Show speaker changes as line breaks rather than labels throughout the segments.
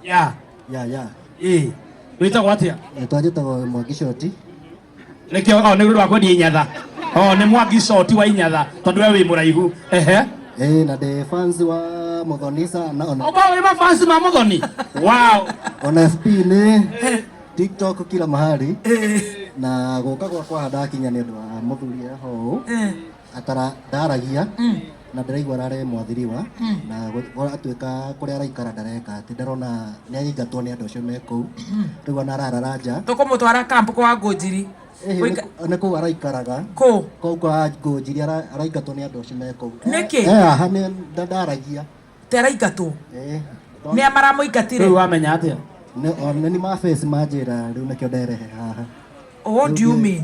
ya ya ya ĩ wĩtagwo atĩa etwa njĩtagwo mwangi
coti nĩkĩo
o nĩ rwa kwendia inyatha o nĩ mwangi coti wa inyatha tondũ we wĩ mũraihu ehe ĩ na
ndĩ fans wa mũthoni sana ona okorwo wĩ mafansi ma
mũthoni wow ona fb
nĩ tiktok kila mahali na gũka gwakwa handakinya nĩ ũndũ wa mũthuri eho atara ndaragia Mm. na ndĩraigua arare mwathiriwa Mm. na gũ- atuĩka kũrĩa araikara ndareka atĩ ndarona nĩ aingatwo nĩ andũ acio me kũu rĩu ona ararara nja tũkũmũtwara kamp kwa
ngũnjiri Ĩhĩ, Ũika- nĩ- nĩ kũu
araikaraga kũ kũu kwa ngũnjiri ara- araingatwo nĩ andũ acio me kũu Nĩkĩ? Eh, eh, aha nĩ
nda-
ndaragia teraingatwo
Eh, nĩ rĩu amaramũingatire
wamenya atĩa nĩ- o, nĩ ni
mabeci manjĩra rĩu nĩkĩo nderehe haha ũũ ndiumi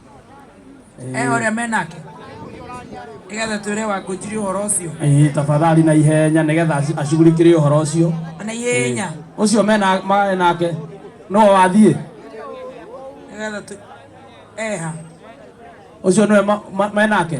ehe ũrĩa menake nĩgetha twĩre wangũnjiri ũhoro ũcio Eh, tafadhali na
ihenya nigetha aci- ashughulikire ũhoro ũcio na ihenya
ũcio mena
marĩ nake nĩwe wathiĩ
nĩgetha tũ- eha
ũcio nĩwe ma- ma- menake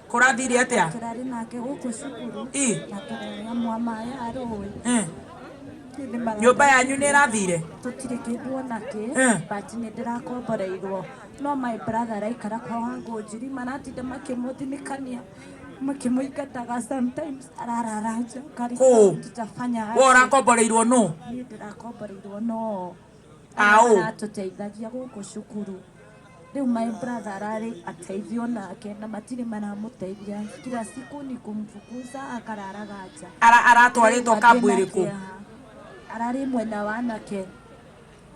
Kũrathiire atĩa? Tũrarĩ nake gũkũ
cukuru. Ii. Na tũrarĩa mwa maĩ a rũĩ. Eh.
Nĩ mara- Nyũmba yanyu nĩ ĩrathiire? Tũtirĩ kĩndũ
ona kĩ. Eh. But nĩ ndĩrakomboreirwo. No my brother araikara kwa wangu njiri maratinda makĩmũthinikania makĩmũingataga sometimes ararara nja Kũũ? karĩkĩra tutafanya We ũrakomboreirwo
nũ? niĩ ndĩrakomboreirwo
no Aũ? maratũteithagia gũkũ cukuru Rĩu my brother ararĩ ateithio nake na matirĩ maramũteithia kila siku ni kumfukuza akararaga nja Ara, aratwarĩtwo Rĩu
kambu arĩ na ĩrĩkũ kĩeha. ararĩ
mwena wa anake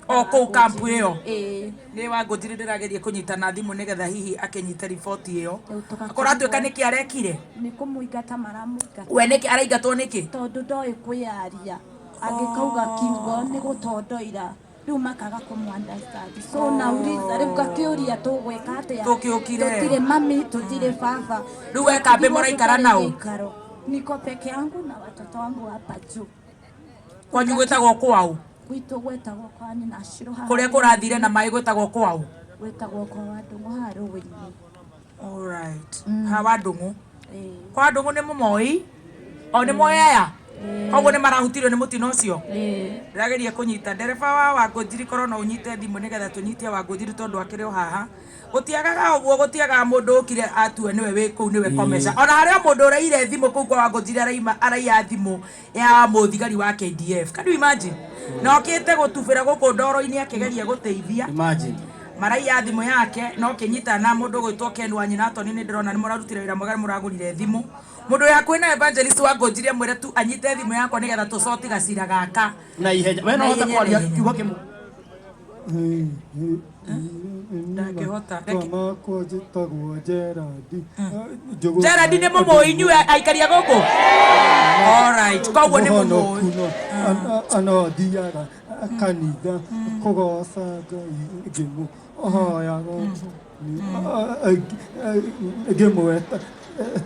o kũu
kambu ĩyo Ĩĩ. nĩ wangũnjiri ndĩrageria kũnyita na thimũ nĩgetha hihi akĩnyite riboti ĩyo Rĩu tũgakĩrigwo- akorwo atuĩka nĩkĩ arekire nĩ kũmũingata
maramũingata we nĩkĩ araingatwo
nĩkĩ tondå ndoä kwä
yaria angä kauga kiugo nä gå tondoira rĩu makaga kũmũ understand so oh. nauliza rĩu ngakĩũria tũgwĩka atĩa tũkĩũkire tũtirĩ mami tũtirĩ baba rĩu we kambĩ
mũraikara nao niko peke
yangu na watoto wangu hapa juu kwanyu
gwĩtagwo kwau gwitũ gwĩtagwo
kwa nyina kũrĩa kũrathire na
maĩ gwĩtagwo kwau gwĩtagwo kwa
andũ mũharũ wĩinĩ alright
ha wa ndũng'ũ kwa ndũng'ũ nĩ mũmoi o nĩ moĩ aya koguo nĩ marahutirio nĩ mũtino ũcio ndĩrageria kũnyita ndereba wa wangũnjiri korwo no ũnyite thimũ nĩgetha tũnyite wangũnjiri tondũ akĩrĩ o haha gũtiagaga ũguo gũtiagaga mũndũ ũkire atue nĩwe wĩ kũu nĩwe komesha ona harĩa mũndũ ũreire thimũ kũu kwa wangũnjiri araima araiya thimũ ya mũthigari wa KDF. Can you imagine? Na okĩte gũtubĩra gũkũ ndoro-inĩ akĩgeria gũteithia. Imagine. Maraiya thimũ yake na ũkĩnyita na mũndũ ũgwĩtwo Ken wa nyina toni nĩ ndĩrona nĩ mũrarutire wĩra mwega nĩ mũragũrire thimũ. Mũndũ wĩ hakuhĩ na Evangelist wa ngũnjiri amwĩre tu anyite thimũ yakwa nĩ getha tũcoti gacira gaka. Na ihenya. We no Na ũhote
ihenya, kwaria na ihenya. kiugo kĩmwe.
Ndangĩhota. Reke- makwa
njĩtagwo Gerard Njũgũna.
Gerard nĩ mũmũĩ inyuĩ aikaria gũkũ Alright, koguo nĩ mũmũĩ Mũhonoku no, ana-
ana thiaga kanitha kũgoca ngai ngĩmũ hoyaga ngĩmweta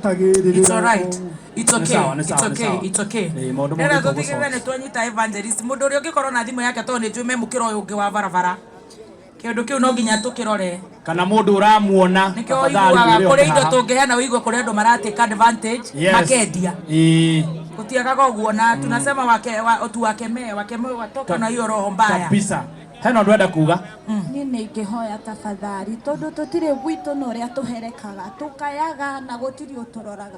tagĩrĩrĩra It's alright. It's okay. sawa, nĩ It's sawa, nĩ okay. sawa. It's okay.
Ĩĩ, maũndũ Rĩrĩa mothe tũtigĩrĩre tũgũcoka. nĩ twanyita evangelist mũndũ ũrĩa ũngĩkorwo na thimũ yake tondũ nĩ njũĩ memũkĩra ũyũ ũngĩ wa barabara kĩndũ kĩu no nginya tũkĩrore kana mũndũ
ũramuona nĩkĩo tafadhali ũiguaga mwĩre
kũrĩ oke indo haha. tũngĩheana ũigua kũrĩ andũ maratĩka advantage Yes. makendia Ĩĩ, gũtiagaga ũguo na tunasema wake wa, otu
wakemee
wakemee watoka na hiyo roho mbaya kabisa hena
ũndũ enda kuga niä nä ingä
hoya tabathari tondå tå tirä gwitå na å rä a tå herekaga tå kayaga na gå tirä å tå roraga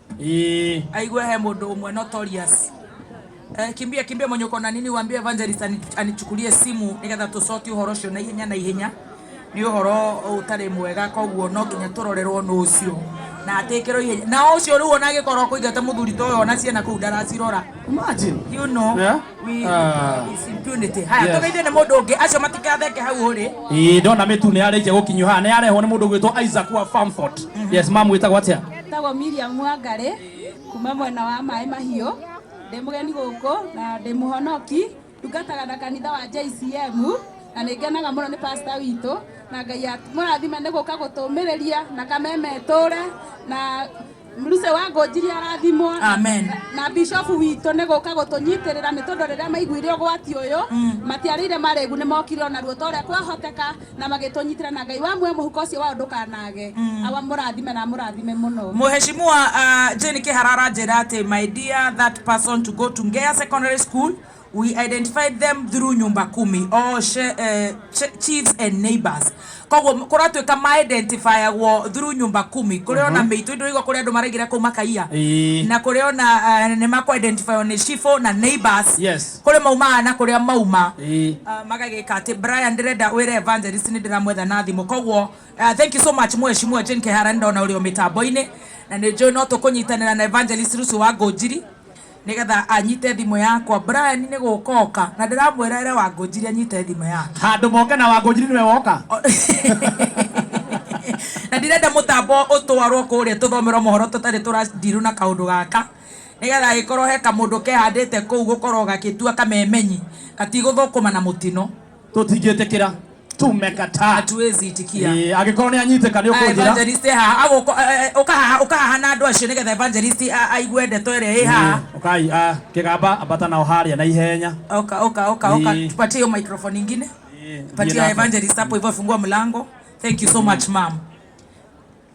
Ii. aigue he mundu umwe notorious Eh, kimbia kimbia mwenye uko na nini uambie evangelist ani- anichukulie simu nigetha tucoki uhoro ucio na ihenya na ihenya ni uhoro utari mwega koguo no nginya turorerwo nu ucio na atikirwo ihenya na ucio riu ona agikorwo kuigate muthuri ta uyo ona ciana kuu ndaracirora Imagine. you
know Yeah.
We Ah. is impunity. Haya, Yes. tũgeithie nĩ mũndũ ũngĩ acio matikatheke hau ũrĩ Ĩĩ, ndona mĩtu nĩ
yarĩkia gũkinyio haha nĩ yarehwo nĩ mũndũ gwĩtwo Isaac wa Farmfort yes mamu wĩtagwo atĩa Ndagwo Miriam
Wangari kuma mwena wa maĩ mahiũ ndĩ mũgeni gũkũ na ndĩ mũhonoki ndungataga na kanitha wa JCM na nĩ ngenaga mũno nĩ pasta witũ na Ngai at- mũrathime nĩ gũka gũtũmĩrĩria na kameme tũre na Mruce wa Ngũnjiri arathimwo Amen. na
bishofu
witũ nĩ gũka gũtũnyitĩrĩra nĩ tondũ rĩrĩa maiguire ũgwati ũyũ matiarĩire marĩgu nĩ mokire ona ruo ta ũrĩa kwahoteka na magĩtũnyitĩra na ngai wa muoyo mũhuko ũcio wao ndũkanage awa mũrathime na mũrathime mũno Mheshimiwa uh,
Jane Kihara aranjĩra atĩ my dear that person to go to Ngea Secondary School We identified them through nyumba kumi or she, eh, ch chiefs and neighbors koguo kũratuĩka ma identifiagwo through nyumba kumi kũrĩ ona mĩitũ indo igwa kũrĩ andũ maraigĩra kũu makaiya Ĩĩ. na kũrĩ ona eh, nĩ makwa identifywo nĩ cibũ na neighbors Yes. kũrĩ maumaga
na kũrĩa
mauma Ĩĩ. Ah, magagĩka atĩ brian ndĩrenda wĩre evangelist nĩ ndĩramwetha na thimũ koguo ah, thank you so much mweshimua jane kehara nĩ ndona ũrĩ o mĩtambo-inĩ na nĩ njũĩ no tũkũnyitanĩra na evangelist rucio wa ngũnjiri Nĩgetha anyite thimũ yakwa. Brian nĩ gũka oka. Na ndĩramwĩra ere Wangũnjiri anyite thimũ yake. Handũ moke na Wangũnjiri
nĩwe woka?
Na ndirenda mũtambo ũtwarwo kũrĩa tũthomerwo mohoro tũtarĩ tũra deal na kaũndũ gaka. Nĩgetha agĩkorwo he kamũndũ kehandĩte kũu gũkorwo gagĩtua kamemenyi gatigũthũkũma na mũtino. tũtingĩtĩkĩra
tumekataa hatuwezi itikia
Eh, angĩkorwo nĩ anyitĩka nĩ Ah,
ũkũnjĩra evangelist haha agũko-
eh, eh, ũka haha ũka haha na andũ acio nĩgetha evangelist a- aigue ndeto ĩrĩa ĩ haha Eh, ũkai ah, kĩgamba
ambata nao harĩa na ihenya oka oka oka oka
Eh. tupatie hiyo microphone ingine Eh, thiĩ patia nake. evangelist hapo hivyo fungua mlango thank you so much ma'am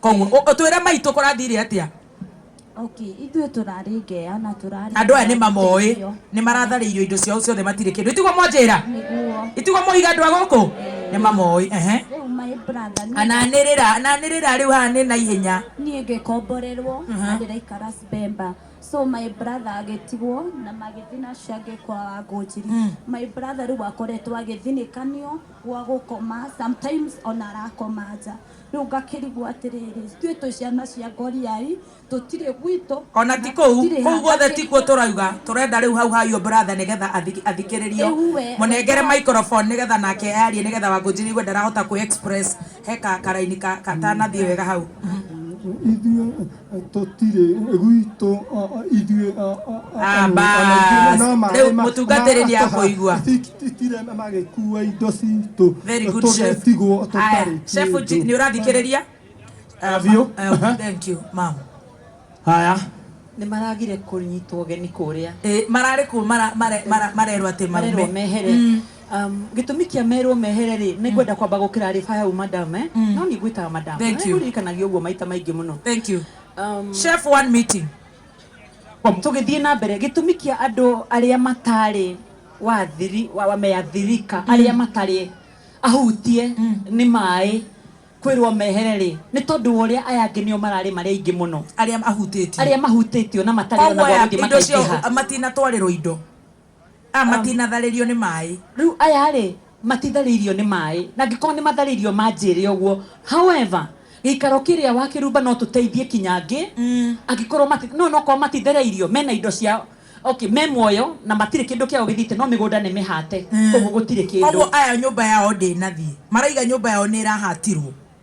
Kwoguo, ũ- ũtwĩre mai tũkũrathire atĩa? Okay,
ithuĩ tũrarĩ ngeya na tũrarĩ Andũ aya nĩ mamoĩ, tũteithio.
nĩ maratharĩirio indo ciao ciothe matirĩ kĩndũ. Itiguo mwanjĩra? Nĩguo. Itiguo moiga andũ a gũkũ? Nĩ mamoĩ, ehe. Rĩu my
brother niĩ- Ananĩrĩra, ananĩrĩra
rĩu haha nĩ na ihenya. niĩ ngĩkomborerwo
na ndĩraikara Sbemba so my brother agĩtigwo na magĩthiĩ na ciangĩ kwa wangũnjiri my brother rĩu akoretwo agĩthinĩkanio gwa gũkoma sometimes ona arakoma nja Rĩu ngakĩrigwo atĩrĩrĩ, ithuĩ twĩ ciana cia Ngoriai, tũtirĩ gwitũ. Ona ti kũu,
kũu guothe tikuo tũrauga, tũrenda rĩu hau ha your brother nĩgetha athikĩrĩrio. Rĩu we. Mũnengere microphone nĩgetha nake arie nĩgetha Wangũnjiri aigue ndarahota kwĩ express he ka karaini katanathiĩ wega hau. Ithuĩ.
tũtirĩ gwitũ ithuĩ
rĩu mũtungatĩri nĩ akũigua tire
magĩkua indo citũ Very good, chef. tũgetigwo
Aya, tũtarĩ chef kĩndũ. Ji- nĩ ũrathikĩrĩria Ah, Biũ. ma- eh, thank you ma'am haya
nä
maragire kå nyitwo geni kå rä a mararä
kå marerwo atä marerwo mehere
Um, gĩtũmi kĩa merwo mehere rĩ nĩ ngwenda kwamba gũkĩra rĩ fire u madam eh? no
nĩ
ngwĩtaga madam Thank you. ũririkanagia ũguo maita maingĩ mũno Thank you.
um, Chef one meeting.
tũgĩthiĩ na mbere gĩtũmi kĩa andũ arĩa matarĩ wathiri wa- wa- meathirika arĩa matarĩ ahutie nĩ maĩ kwĩrwo mehere rĩ nĩ tondũ wa ũrĩa aya angĩ nĩo mararĩ marĩa aingĩ mũno Arĩa ahutĩtio.
arĩa mahutĩtio na matarĩ Koguo ona
aya gwa gũthiĩ indo cio makaingĩha
matinatwarĩrwo indo. Aya matinatharĩrio nĩ maĩ. Rĩu aya-rĩ,
matitharĩirio nĩ maĩ. Na angĩkorwo nĩmatharĩirio manjĩre ũguo. However, gĩikaro kĩrĩa wakĩrumba no tũteithie kinya angĩ, angĩkorwo mati, no onokorwo matithereirio, mena indo ciao, okay, me muoyo na matirĩ kĩndũ kĩao gĩthiĩte, no mĩgũnda nĩ mĩhate, koguo gũtirĩ kĩndũ. Koguo aya nyũmba yao
ndĩnathiĩ. Maraiga nyũmba yao nĩĩrahatirwo.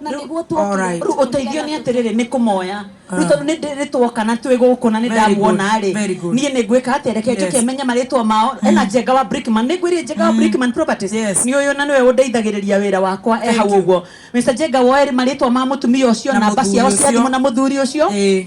na Rĩu, nĩguo twokire alright. rĩu ũteithio
nĩ atĩrĩrĩ nĩ kũmoya rĩu tondũ nĩ ndĩ- nĩ tuoka na twĩ gũkũ na nĩ Very good, ndamuona rĩ very good. niĩ nĩ ngwĩka atĩa reke njoke Yes. menye marĩtwa mao ena njenga wa brickman nĩ ngwĩrire njenga wa brickman properties Yes. nĩ ũyũ na nĩwe ũndeithagĩrĩria wĩra wakwa e Thank hau you. ũguo mr njenga woe marĩtwa ma mũtumia ũcio Na namba mũthuri ciao cia ũcio. thimũ na mũthuri ũcio Ĩĩ.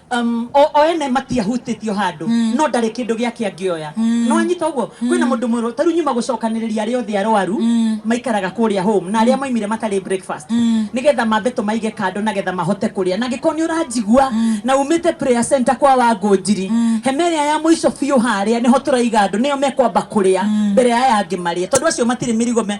um, o, o ene matiahutĩtio handũ mm. no ndarĩ kĩndũ gĩake angĩoya mm. no anyita ũguo mm. kwĩna mũndũ mwerũ ta rĩu nyuma gũcokanĩrĩria arĩa othe arwaru mm. maikaraga kũrĩa home na arĩa mm. maimire matarĩ breakfast mm. nĩgetha mambe tũmaige kando na getha mahote kũrĩa na gĩkorwo nĩ ũranjigua mm. na umĩte prayer center kwa wangũ njiri mm. hema ĩrĩa ya mũico biũ harĩa nĩho tũraiga andũ nĩo mekwamba kũrĩa mm. mbere ya aya angĩ marĩa tondũ acio matirĩ mĩrigo me